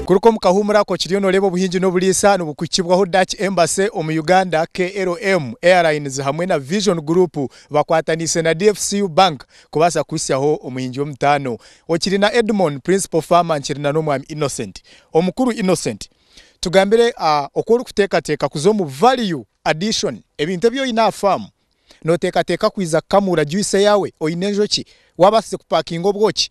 Kuruka omu kahuumuro ako kiriyo noreeba obuhingi n'oburiisa nibukuhikibwaho Dutch Embassy omu Uganda, KLM, Airlines hamwe na Vision Group bakwataniise na DFCU Bank kubaasa kuhitsyaho omuhingi w'omutaano. Okiri na Edmon, Principal Farmer, nkiri na n'omwami Innocent. Omukuru Innocent, tugambire oku orikuteekateeka kuza omu value addition, ebintu ebi oine aha faamu, nooteekateeka kwija kukamuura juice yaawe, oine enjoki, waabaasize kupakinga obwoki,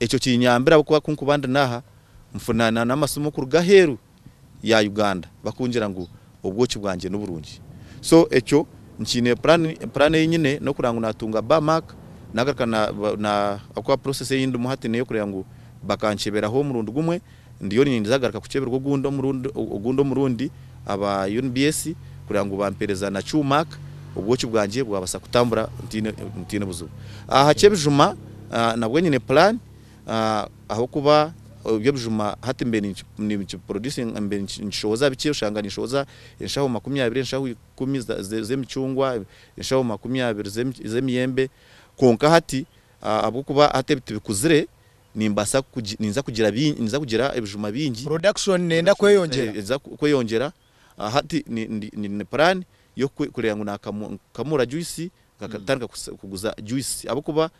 Ekyo kinyambire ahabw'okuba ku nkuba ndi n'aha, nfuna n'amasimu kuruga aheeru ya Uganda bakungira ngu obwoki bwangye niburungi. So ekyo nkiine puraani, puraani ei nyine n'okureeba ngu naatunga ba Mark naagaruka na, na, ahabw'okuba process ei ndimu hati n'ey'okureeba ngu bakankyeberaho omurundi gumwe Ndiyo niinyija kugaruka kukyeberwa ogundi omurundi aba UNBS kureba ngu baampeereza na Qmac, obwoki bwangye bwabaasa kutambura ntaine buzibu. Aha ky'ebijuma nabwo nyine puraani ahabw'okuba eby'ebijuma hati mbaire ninkishohoza bikye, oshanga ninshohoza enshaho makumi abiri, enshaho ikumi z'emicungwa, enshaho makumi abiri z'emiyembe, kwonka hati ahabw'okuba hati tibikuzire, Nimbaasa kugi ninza kugira bi ninza kugira ebijuma bingi. Production nenda kweyongyera. Ninza kweyongyera. Hati ni ndi nyine plan y'oku kureeba ngu naakamu nkamuura juice nkatandika kusa kuguza juice ahabw'okuba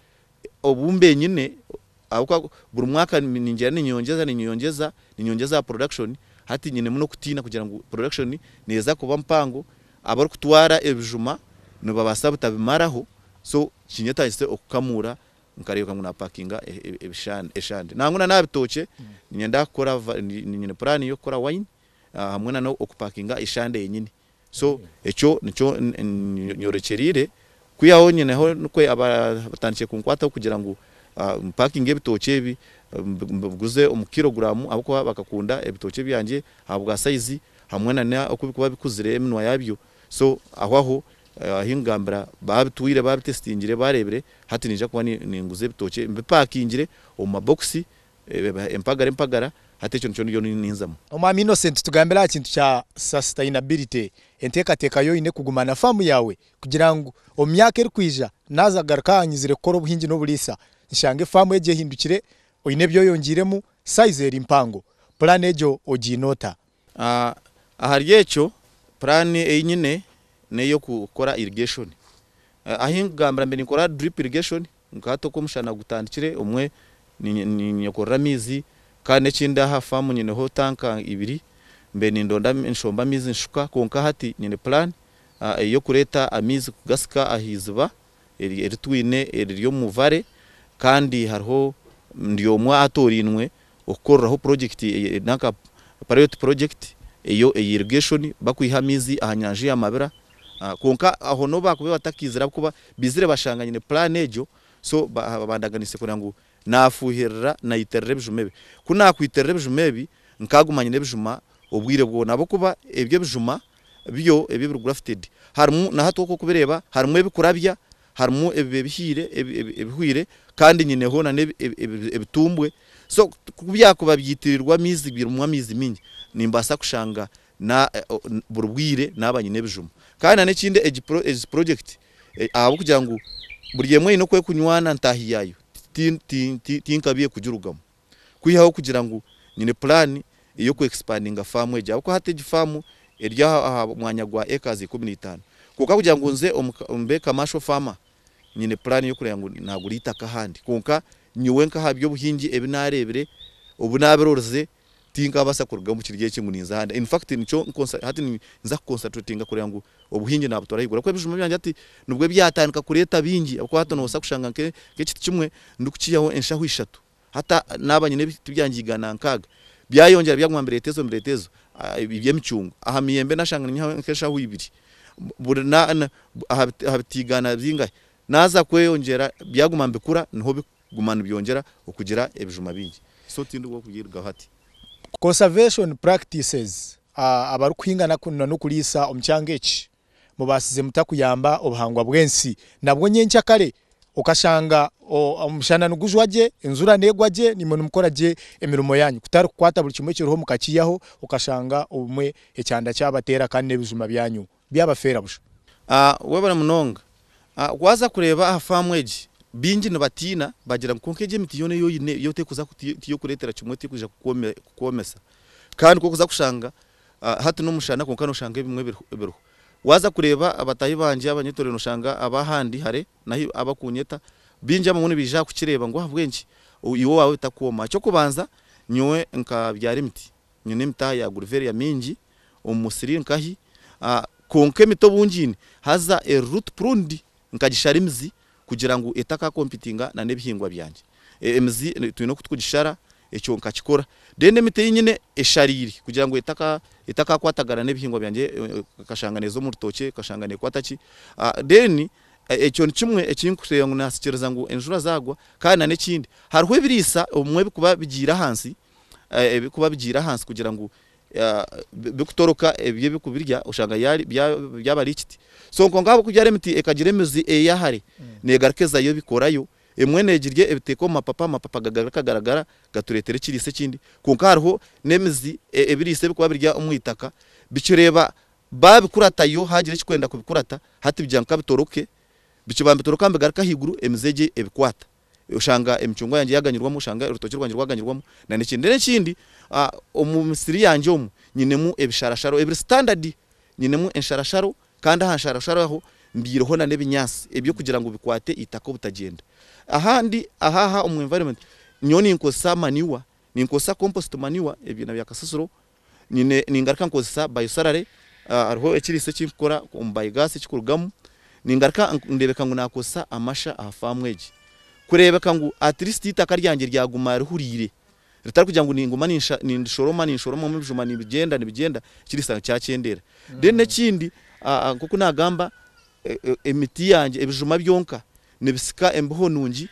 obu mbenyine ahabw'okuba buri mwaka ni ningyenda ninyeyongyeza ninyeyongyeza ninyeyongyeza aha production hati nyinemu n'okutiina kugira ngu production neeza kuba mpango abarikutwara ebijuma nibabaasa butabimaraho so kinyetagise okukamuura Nkareebeka ngu napakinga eshande nangwa na nabitookye ninyenda kukora nyine plan yokukora wine hamwe na nokupakinga eshande yenyini so ekyo nikyo nyorekyereire kwihaho nyineho nikwo batandikire kunkwataho kugira ngu mpakinge ebitookye ebi mbiguze omu kilogram ahabwokuba bakakunda ebitookye byangye ahabwa size hamwe na nokubikuba bikuzire eminwa yabyo So aho aho ahi nkugambira babitwire babitesitingire barebire hati ninja kuba ninguza ebitookye mbipakingire omu mabokisi empagara empagara hati ekyo nikyo ndiyo ninzamu. Omwami Innocent tugambire aha kintu kya Sustainability, enteekateeka yo oine kuguma na faamu yaawe kugira ngu omu myaka erikwija naaza kugaruka aha nyizire kukora obuhingi n'oburiisa nshange faamu egyo ehindukire oine ebi oyongiiremu, size eri mpango. Pulaani egyo ogiine ota? Ahari ekyo, puraani ei nyine n'ey'okukora irigeshoni. Ahi nkugambira mbe ninkora diripu irigeshoni, nka hati oku omushana gutandikire, obumwe ninyekorera amaizi. Kandi n'ekindi aha faamu nyineho tanka ibiri, mbe nindonda nshomba amaizi nshuka. Kwonka hati nyine puraani ey'okureeta amaizi kugatsika aha iziba. eri twine eriri omu Vare kandi hariho ndi omwe aatorainwe okukoreraho purojekiti eri nanka parayoti purojekiti eyo eya irigeshoni bakwiha amaizi aha nyanja ya Mabira kwonka aho n'obu baakubaire batakaizire ahabw'okuba baizire bashanga nyine puraani egyo so bandaganiise kureba ngu Naafuuhirira, naitirira ebijuma ebi. Ku naakwitirira ebijuma ebi, nkaaguma nyine ebijuma obwire bwona ahabw'okuba ebyo ebijuma byo ebi ebiri grafted harimu, na hati oku orikubireeba, harimu ebikurabya, harimu ebiba ebihiire, ebihwire kandi nyineho nana ebitumbwe. So ku byakuba byaitirirwa amaizi, birimu amaizi maingi, nimbaasa kushanga na buri bwire naaba nyine ebijuma kandi na n'ekindi egi project ahabw'okugira ngu buri emwe eine oku erikunywana ntaahi yaayo tinkabi ey'okugirugamu kwihaho kugira ngu nyine plan ey'oku expandinga faamu egi ahabw'okuba hati egi faamu eri aha mwanya gwa acres ikumi na itaano kwonka kugira ngu nze mbe commercial farmer nyine plan ey'okureeba ngu naagura eitaka ahandi kwonka nyowe nk'aha by'obuhingi ebi naareebire obu naabirorize Tinkabaasa kuruga omu kiryo eki ngu ninza ahandi. In fact, nikyo hati ninza kuconcentratinga kureba ngu obuhingi naabutwara ahaiguru ahabw'okuba ebijuma byangye hati nibwo byatandika kureeta bingi ahabw'okuba hati noobaasa kushanga nk'ekiti kimwe ndikukihaho enshaho ishatu hata naaba nyine ebiti byangye igana nkaaga byayongyera byaguma nibireeta ezo nibireeta ezo eby'emicungwa. Aha miyembe naashanga ninyihaho nk'enshaho ibiri aha biti igana zingahi naaza kweyongyera byaguma nibikura niho Guma nibyongyera okugira ebijuma bingi. So tindi w'oku byairugaho ati. Conservation practices Abarikuhinga n'okuriisa omu kyanga eki mubaasize muta kuyamba obuhangwa bw'ensi? Nabwo nyenkya kare okashanga omushana nigujwa gye, enjura neegwa gye nimwe nimukora gye emirimo yaanyu kutari kukwata buri kimwe ekiriho mukakiihaho okashanga obumwe ekyanda kyabateera kandi n'ebijuma byanyu. byabafeera busha. Webare munonga waza kureba aha faamu egi bingi nibatiina bagira ngu kwonka egi emiti yoona eyi oyine yo tekuza tiyokuretera kimwe tekwija kukwomesa kandi kokuza kushanga hati nomushana kwonka noshanga ebimwe biriho waza kureba bataahi bangye abanyetorire noshanga abahandi hare nahi abakunyeta bingi abamwe nibaija aha kukireba ngu ahabwenki iwe owaawe bitakukwoma ekyokubanza nyowe nkabyara emiti nyine emiti aha ya guriveria mingi omu musiri nkahi, kwonka emiti obungiine haza eri root pruned nkagishara emizi kugira ngu etaka competinga na n'ebihingwa byangye. Emizi twine oku turikugishara ekyo nkakikora. Then emiti ei nyine eshariire kugira ngu etaka etakakwatagana n'ebihingwa byangye ekashanga neeza omu rutookye ekashanga nekwata ki. Then ekyo ni kimwe eki ndikureeba ngu naasikiriza ngu enjura zaagwa. Kandi na n'ekindi hariho ebiriisa obumwe ebirikuba bigiire ahansi ebirikuba bigiire ahansi kugira ngu bikutoroka ebyo ebikubirya oshanga byaba ari ekiti so kwonka ahabw'okugira ari emiti ekagira emizi eya hare negaruka ezayo ebikorayo emwe negirya ebiteeka omu mapapa, amapapa gagaruka gagaragara gatureetera ekiriisa ekindi kwonka hariho n'emizi ebiriisa ebikuba biri omu itaka bikireeba babikuratayo haagira ekirikwenda kubikurata hati bigira ngu kabitoroke, bikibanda nibitoroka nibigaruka ahaiguru emizi egyo ebikwata. oshanga emicungwa yangye yaganyirwamu, oshanga orutookye rwangye rwaganyirwamu, na n'ekindi. Reero ekindi, omu misiri yangye omu, nyinemu ebisharasharo ebiri standard, nyinemu ensharasharo, kandi aha nsharasharo aho mbyireho na n'ebinyaatsi eby'okugira ngu bikwate eitaka obutagyenda. Ahandi aha aha omu environment, nyowe ninkozesa manure, ninkozesa compost manure, ebyina bya kasasiro. Nyine ningaruka nkozesa biosalary hariho ekiriisa ekinkukora omu biogas ekikurugamu ningaruka ndeebeka ngu nakozesa amasha aha faamu egi kureebeka ngu atleast eitaka ryangye ryaguma rihuriire ritarikugira ngu ninguma nindishoroma ninshoromamu ebijuma nibigyenda nibigyenda ekiriisa kyakyendeera. Then n'ekindi nkoku nagamba emiti yangye ebijuma byonka nibisika embeho nungi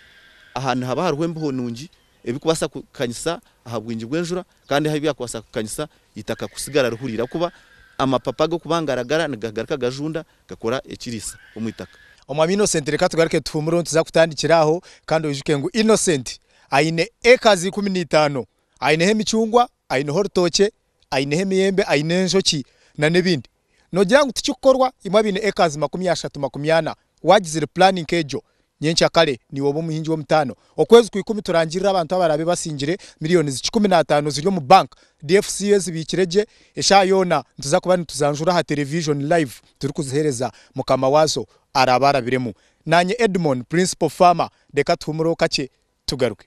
aha nihaba hariho embeho nungi Ebirikubaasa kukanyisa aha bwingi bw'enjura kandi ahu byakubaasa kukanyisa eitaka kutsigara rihuriire ahakuba amapapa g'okubangaragara nigagaruka gajunda gakora ekiriisa omu itaka. Omwami Innocent reka tugaruke tuhuumure ohu tuza kutandikira aho kandi oijuke ngu Innocent aine acres ikumi na itaano. Aineho emicungwa, aineho orutookye, aineho emiyembe, aine enjoki na n'ebindi. Nogira ngu tikikukorwa imwe abaine acres makumi ashatu, makumi ana wagizire plan nk'egyo nyenkya kare niiwe obe omuhingi w'omutaano. Okwezi kwa ikumi turangirire abantu abaraabe basingire millions kikumi na ataano ziri omu bank dfcu ezibiikire gye. Eshaaha yoona nituza kuba nituzijanjura aha television live turikuzihereza mukama waazo araabe arabiremu. Naanye Edmon, principal farmer, reka tuhumureho kakye tugaruke.